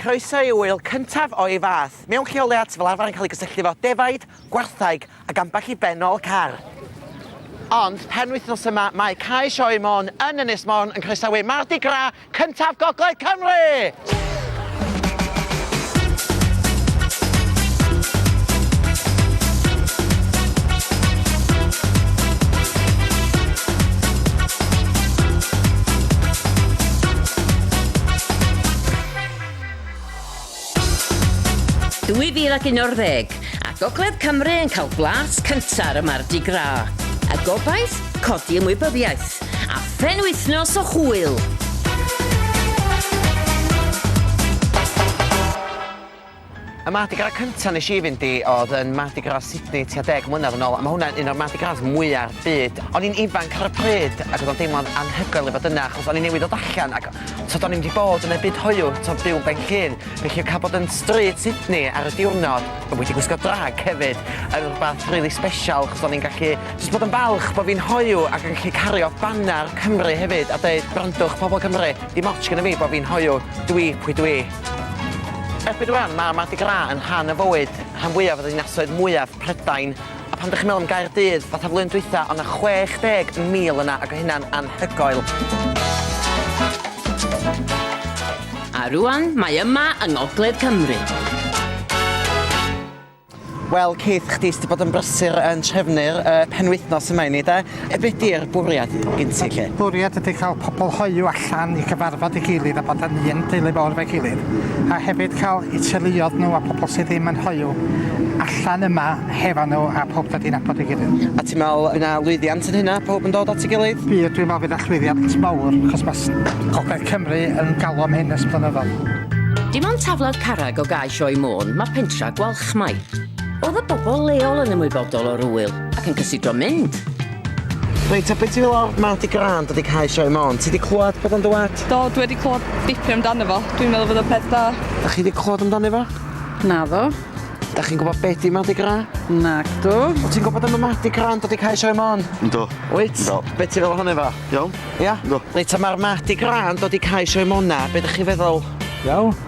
Croeso i ŵyl cyntaf o'i fath, mewn lleoliad sydd fel arfer yn cael ei gysylltu efo defaid, gwartheg ac ambell i bennol car. Ond penwythnos yma mae Cae Sioe Môn yn Ynys Môn yn croesawu Mardi Gras cyntaf Gogledd Cymru! 2011, a Gogledd Cymru yn cael blas cynta' ar y Mardi Gras, a gobaith codi ymwybyddiaeth, a phenwythnos o hwyl! Y Mardi Gras cynta nes i fynd i oedd yn Mardi Gras Sydney tua deg mlynedd yn ôl a mae hwnna'n un o'r Mardi Gras mwyaf byd. O'n i'n ifanc ar y pryd ac oedd o'n deimlo'n anhygoel i fod yna achos o'n i newydd ddod allan ac t'od o'n i'm wedi bod yn y byd hoyw t'od byw yn Ben Llŷn felly cael bod yn stryd Sydney ar y diwrnod a wedi gwisgo drag hefyd yn rhywbeth rili sbesial achos o'n i'n gallu jyst bod yn falch bod fi'n hoyw ac yn gallu cario baner Cymru hefyd a deud gwrandwch pobl Cymru dim ots gynna fi bod fi'n hoyw dwi pwy dwi. Erbyn rwan, mae Mardi Gras yn rhan o fywyd rhan fwyaf o ddinasoedd mwyaf Prydain, a phan dych chi'n meddwl am Gaerdydd, fatha flwyddyn dwytha, o' 'na 60,000 yna ac o' hynna'n anhygoel. A rwan mae yma yng ngogledd Cymru. Wel Keith, chdi sydd wedi bod yn brysur yn trefnu'r uh, penwythnos yma i ni de. Be di'r bwriad gen ti lle? Bwriad ydy cael pobl hoiw allan i gyfarfod i gilydd a bod yn un deulu fawr fe gilydd. A hefyd cael i teuluodd nhw a pobl sydd ddim yn hoiw allan yma hefo nhw a pob dod i'n abod i gilydd. A ti'n meddwl bydd yna lwyddiant yn hynna, pob yn dod at ei gilydd? Fi, dwi'n meddwl bydd yna llwyddiant mawr, achos mae Gogledd Cymru yn galw am hyn ers blynyddoedd. Dim ond taflad carreg o gae Sioe Môn, mae pentra Gwalchmai. Oedd y bobl leol yn ymwybodol o'r ŵyl ac yn cysidro mynd? Reit, a beth ti'n meddwl o'r Mardi Gras wedi cael Sioe Môn? Ti wedi clywed bod o'n dywed? Do, dwi wedi clywed dipyn amdano fo. Dwi'n meddwl bod o'n peth da. Da chi wedi clywed amdano fo? Na ddo. Da chi'n gwybod beth di Mardi Gras? Nac dw. O ti'n gwybod am y Mardi Gras wedi cael Sioe Môn? Do. Wyt? Do. Beth ti'n feddwl hwnna fo? Iawn. Ia? Do. Reit, a mae'r Mardi Gras wedi cael Sioe Môn na, beth ydych chi'n feddwl? Iawn.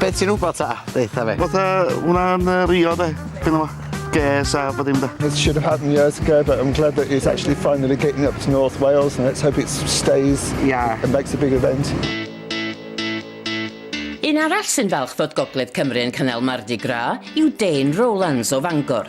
Beth ti'n wybod ta? Ddeitha fe. Fatha wna'n uh, rio de, gynnu fo. Ges a bod dim da. It should have happened years ago, but I'm glad that it's actually finally getting up to North Wales and let's hope it stays yeah. and makes a big event. Un arall sy'n falch fod Gogledd Cymru yn cynnal Mardi Gras yw Dane Rowlands o Fangor.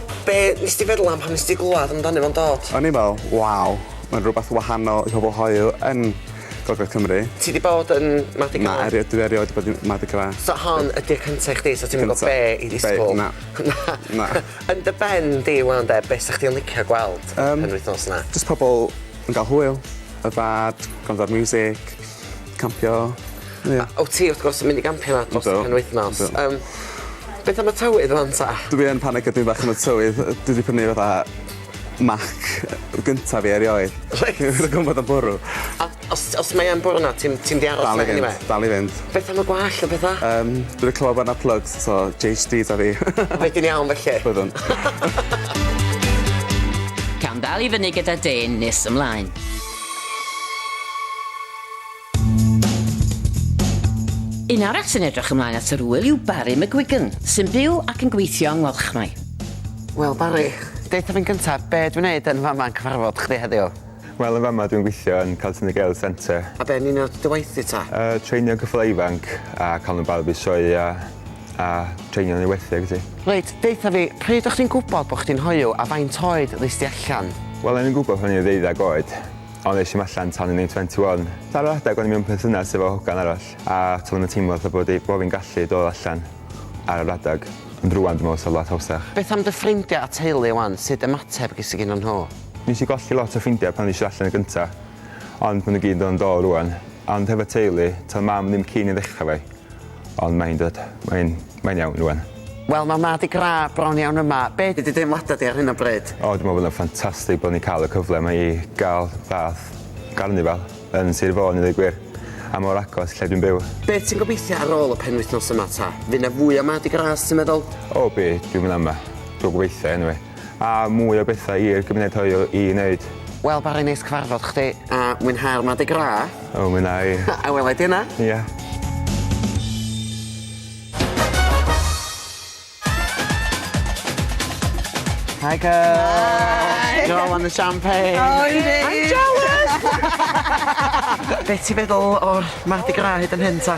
Be nes di feddwl am pan nes di glwad amdano fo'n dod? O'n i'n me'wl, waw, ma'n rwbath wahanol i pobol hoyw yn gogledd Cymru. Ti 'di bod yn Mardi Gras? Na, erio- dwi erioed 'di bod yn Mardi Gras. So hon ydi'r cynta i chdi so ti'm yn gwbo be' i ddisgwl? Na. Na. Na. Yn dy ben di 'wan 'de be' sa chdi yn licio gweld yn y penwythnos 'na? Yym jyst pobol yn ga'l hwyl, yfad, gwrando ar miwsic. Campio, ie. A wt ti wrth gwrs yn mynd i gampio 'ma dros y penwythnos. Yndw. Yym beth am y tywydd rŵan 'ta? Dw i yn panico dipyn bach am y tywydd yy dwi 'di prynu fatha mac yy gynta fi erioed. Reit. Rwy'n gwbo bod o'n bwrw. A os os mae yn bwrw 'na ti'm ti'm 'di aros 'na eniwe? Dal i fynd dal i fynd. Beth am y gwallt a petha? Yym dwi 'di clywed bo' 'na plygs so JHD 'da fi. Wedyn iawn felly. Byddwn. Cawn dal i fyny gyda dên nes ymlaen. Un arall sy'n edrych ymlaen at yr ŵyl yw Barry McGuigan, sy'n byw ac yn gweithio yng Ngwalchmai. Wel Barry, deutha fi'n gyntaf, be dwi'n neud yn fama yn cyfarfod chdi heddiw? Wel yn fama dwi'n gweithio yn Caltini Girls Centre. A be'n union ydy dy waith di ta? Yy treinio ceffylau ifanc a cael nhw'n barod i sioeau a treinio yn ei werthu ag ati. Reit, deutha fi, pryd o'ch chdi'n gwybod bod chdi'n hoyw a faint oed ddes di allan? Wel, o'n i'n gwybod pan o'n i'n ddeuddeg oed, ond es i'm allan tan o'n i'n 21. Ar yr adeg o'n i mewn perthynas efo hogan arall a toeddwn yn teimlo fatha bod i- bo' fi'n gallu dod allan ar yr adeg, ond rŵan dwi'n meddwl fysa fo lot hawsach. Beth am dy ffrindiau a teulu 'wan, sut ymateb ges di gynddyn nhw? Nes i golli lot o ffrindiau pan ddes i allan y gynta, ond ma' nhw gyd yn dod yn do rŵan. Ond hefo teulu, toedd mam ddim keen i ddechra 'fo fi. Ond mae'n dod. Mae'n... mae'n iawn rwan. Wel ma ma dy gradd bron iawn yma. Be di dy deimlada di ar hyn o bryd? O dwi me'wl bod o'n ffantastig bod ni'n ca'l y cyfle ma i ga'l fath garnifal yn Sir Fôn i ddeu gwir. A mor agos lle dwi'n byw. Be ti'n gobeithio ar ôl y penwythnos yma ta? Fy na fwy o Mardi Gras ti'n meddwl? O bydd, dwi'm yn ama. Dw gobeithio eniwe. A mwy o bethau i'r gymuned hoyw i wneud. Wel bore neis cyfarfod chdi a mwynhau'r Mardi Gras. O mwynha i. A wela i ti yna. Ia. Hi girl! Hi! You're all on the champagne. Oh yndi! I'm jealous! Be' ti feddwl o'r Mardi Gras hyd yn hyn ta?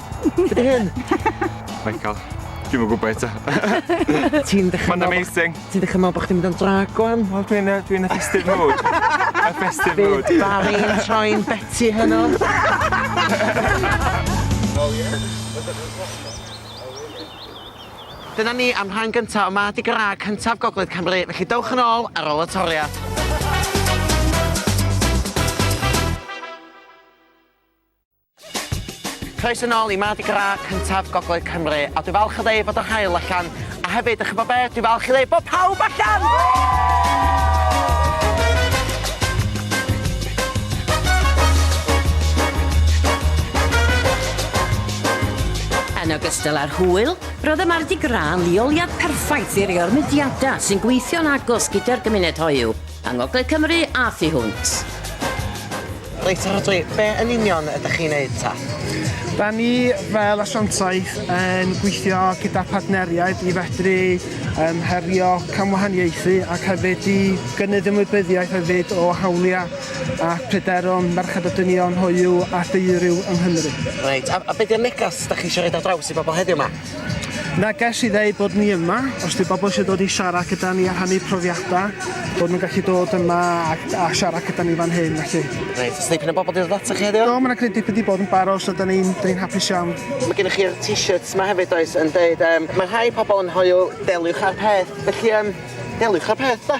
Be di hyn? Michael, dwi'm yn gwybod eto. Ti'n dechrau... Mae'n amazing. Ti'n dechrau meddwl bod chdi'n mynd o'n drag o'n? Wel, dwi'n y, dwi'n y festive mood. y festive mood. Bydd Barry'n troi'n Betty hynno. Dyna ni am rhan gyntaf o Mardi Gras cyntaf Gogledd Cymru, felly dewch yn ôl ar ôl y toriad. Croeso nôl i Mardi Gras cyntaf Gogledd Cymru a dwi falch o ddeud bod yr haul allan a hefyd, dych chi'n gwybod be, dwi falch i ddeud bod pawb allan! Yn ogystal â'r hwyl, roedd y Mardi Gras yn leoliad perffaith i rei o'r mudiadau sy'n gweithio'n agos gyda'r gymuned hoyw, Yng Ngogledd Cymru a thu hwnt. Reit, Rhodri, be yn union ydych chi'n neud ta? Da ni fel asiantaeth yn gweithio gyda partneriaid i fedru um, herio camwahaniaethu ac hefyd i gynnydd ymwybyddiaeth hefyd o hawliau a pryderon merched a dynion hoyw a theiriw yng Nghymru. Reit, a, a beth yw'r negas da chi eisiau rhaid ar draws i bobl heddiw yma? Neges i ddeud bod ni yma, os di bobl eisiau dod i siarad gyda ni a rhannu profiadau, bod nhw'n gallu dod yma a, a siarad gyda ni fan hyn, felly. Reit, os dipyn o bobl di ddod ata chi heddiw? Do, mae'n greu dipyn di bod yn barod, so da ni'n ni hapus iawn. Mae gennych chi'r t-shirts yma hefyd, does, yn deud, um, mae rhai pobl yn hoyw, deliwch â'r peth, felly, um, deliwch â'r peth, da.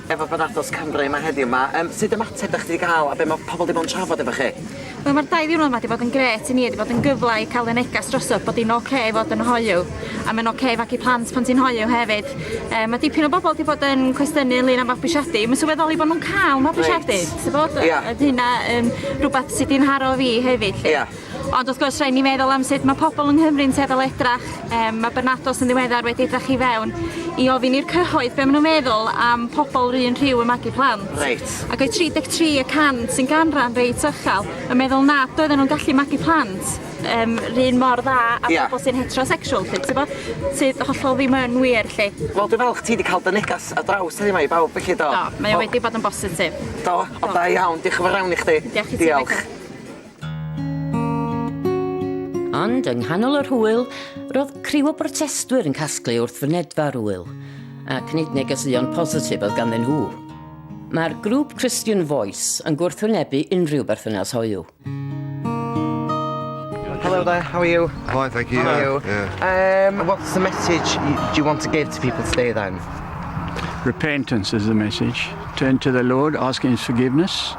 Efo bod Ardo's Cymru yma heddiw 'ma, yym sud ymateb 'dach chi 'di ga'l a be' ma' pobol 'di bod yn trafod efo chi? Wel ma'r dau ddiwrnod 'ma 'di bod yn grêt i ni, 'di bod yn gyfle i ca'l y negas drosodd bod 'i'n ocê i fod yn hoyw a ma'n ocê i fagu plant pan ti'n hoyw hefyd. Yy ma' dipyn o bobol 'di bod yn cwestiynu ynglŷn â mabwysiadu, ma' sylweddoli bo' nw'n ca'l mabwysiadu. Reit. Ti wbod? Ia. O'dd hynna yn rwbath sy 'di 'nharo fi hefyd 'lly. Ia. Ond wrth gwrs, rhaid ni feddwl am sut mae pobl yng Nghymru'n tueddol edrach. Um, mae Bernados yn ddiweddar wedi edrach i fewn i ofyn i'r cyhoedd beth maen nhw'n meddwl am pobl rhywun rhyw y magu plant. Reit. Ac oedd 33 y cant sy'n ganran reit ychel yn meddwl nad oedden nhw'n gallu magu plant um, rhywun mor dda a yeah. pobl sy'n heterosexual, lle, ti'n bod, sydd hollol ddim yn wir, lle. Wel, dwi'n falch ti wedi cael dy negas a draws hynny mae i bawb, felly do. Do, mae o wedi bod yn bositif. Do, o da iawn, diolch yn fawr iawn i chdi. Diolch i ti. Diolch. Ond yng nghanol yr hwyl, roedd criw o brotestwyr yn casglu wrth fynedfa'r ŵyl, ac nid negeseuon positif oedd ganddyn nhw. Mae'r grŵp Christian Voice yn gwrthwynebu unrhyw berthynas hoyw. Hello there, how are you? Fine, thank you. How are you? Yeah. Um, what's the message do you want to give to people today then? Repentance is the message. Turn to the Lord, ask His forgiveness.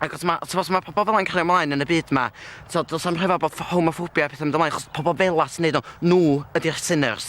Ac os mae, ti'n os mae pobl fel yna'n cario ymlaen yn y byd yma, so, does am rhyfedd bod homophobia a pethau'n mynd ymlaen, chos pobl fel yna sy'n neud o, nhw ydy'r sinners.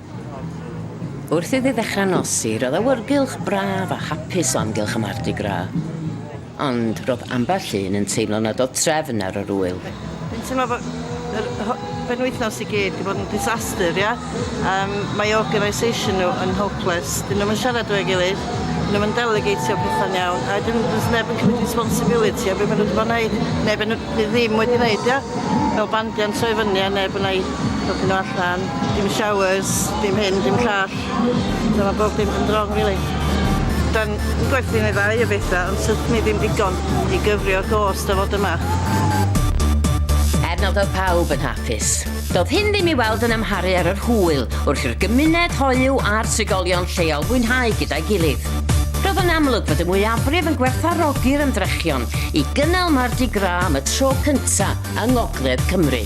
Wrth iddi ddechrau nosi, roedd awyrgylch braf a hapus o amgylch y Mardi Gras. Ond roedd ambell un yn teimlo nad oedd trefn ar yr ŵyl. Dwi'n teimlo fod yr penwythnos i gyd 'di bod yn disaster, ia? Yym, mae organisation nhw yn hopeless. Dyn nhw'm yn siarad efo'i gilydd, dyn nhw'm yn delegatio pethau'n iawn, a wedyn does neb yn cymryd responsibility o be' ma' nhw 'di bod yn neud, neu be' nhw Dwi ddim wedi neud dio. Fel bandiant troi fyny a neb yna i helpu nhw allan. Dim showers, dim hyn, dim llall. Fel ma' bob dim yn wrong rili. Da'n gwerthu neu ddau o betha ond syth ni ddim digon i gyfrio'r gost o fod yma. Er nad oedd pawb yn hapus, Doedd hyn ddim i weld yn amharu ar yr hwyl wrth i'r gymuned hoyw a'r trigolion lleol fwynhau gyda'i gilydd. Roedd yn amlwg fod y mwyafrif yn gwerthfawrogi'r ymdrechion i gynnal Mardi Gras am y tro cyntaf yng Ngogledd Cymru.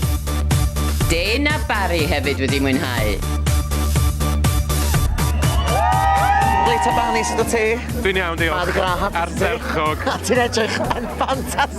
Dane a Barry hefyd wedi mwynhau. Reit ta Barry, sut wyt ti? Dwi'n iawn, diolch. Mardi Gras hapus i ti? Ardderchog. Ti'n edrych yn ffantastig!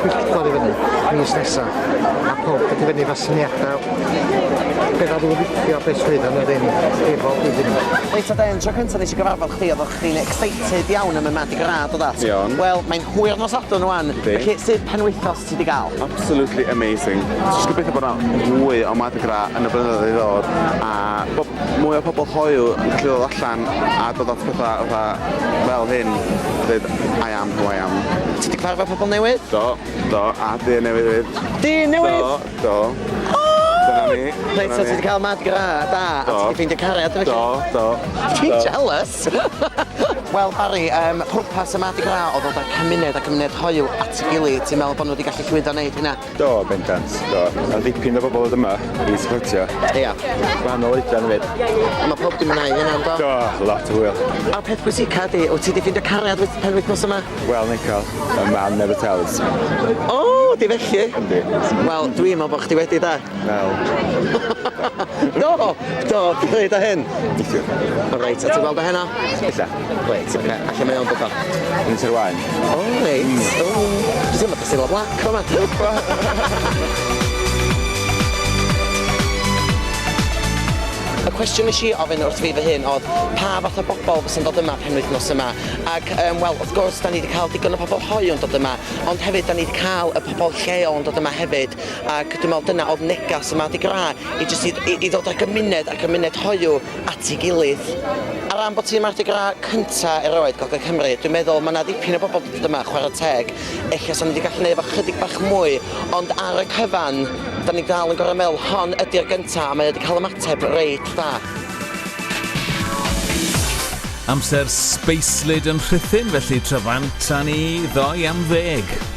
pwyllgor i fyny mis nesa a pawb wedi fyny efo syniadau beth oedd yn licio beth sydd yn yr un i bob iddyn nhw. Reit ta den, tro cyntaf nes i gyfarfod chdi oeddech chdi'n excited iawn am y Mardi Gras do that? Iawn. Wel mae'n hwyr nos Sadwrn wan, felly sut penwythos ti di gael? Absolutely amazing. Jyst gobeithio bod yna fwy o Mardi Gras yn y blynyddoedd i ddod a bod mwy o pobl hoyw yn gallu ddod allan a dod at pethau fatha fel hyn a deud I am Go iawn. Ti 'di cyfarfod pobl newydd? Do, do, a dyn newydd hefyd. Dyn newydd? Do, do. O! Dyna ni. Reit, so ti 'di cael mad gra da, a ti 'di ffeindio cariad efo Do, do. Ti'n jealous! Wel, Barry, um, pwrpas y mad gra oedd dod â'r cymuned a cymuned hoyw at ei gilydd. Ti'n meddwl bod nhw wedi gallu llwyddo wneud hynna? Do, bendant, do. Mae dipyn o bobl oedd yma i supportio. Ia. Gwahanol oedran hefyd. A mae pob dim yna i hynna, do? Do, lot o hwyl. A'r peth pwysica di, wyt ti wedi ffeindio cariad wyt pen wythnos yma? Wel, Nical, y man never tells. O, di felly? Yndi. Wel, dwi'n meddwl bod chdi wedi, da. Wel. do, do, dwi'n dweud o hyn. Neithiwr. Reit, a ti'n gweld o heno? Ella. Reit oce a lle mae o'n dod o? Yn Sir Waun. O reit. Mm. O. Dwi'n teimlo fatha Cilla Black fama. Y cwestiwn nes i ofyn wrth fi fy hun oedd pa fath o bobl fysa'n dod yma penwythnos yma ac um, wel wrth gwrs da ni wedi cael digon o pobl hoiw yn dod yma ond hefyd da ni wedi cael y pobl lleol yn dod yma hefyd ac dwi'n meddwl dyna oedd negas yma di gra i jyst i, i, i ddod â gymuned a gymuned hoiw at ei gilydd. Ar ran bod hi Mardi Gras cynta erioed Gogledd Cymru, dwi'n meddwl mae 'na ddipyn o bobl 'di dod yma, chwarae teg, ella 'sa ni 'di gallu neud fo chydig bach mwy, ond ar y cyfan, 'da ni dal yn gor'o' meddwl hon ydi'r gynta a mae o 'di cael ymateb reit dda. Amser sbeislyd yn rhuthun felly tra fanta ni ddoe am ddeg.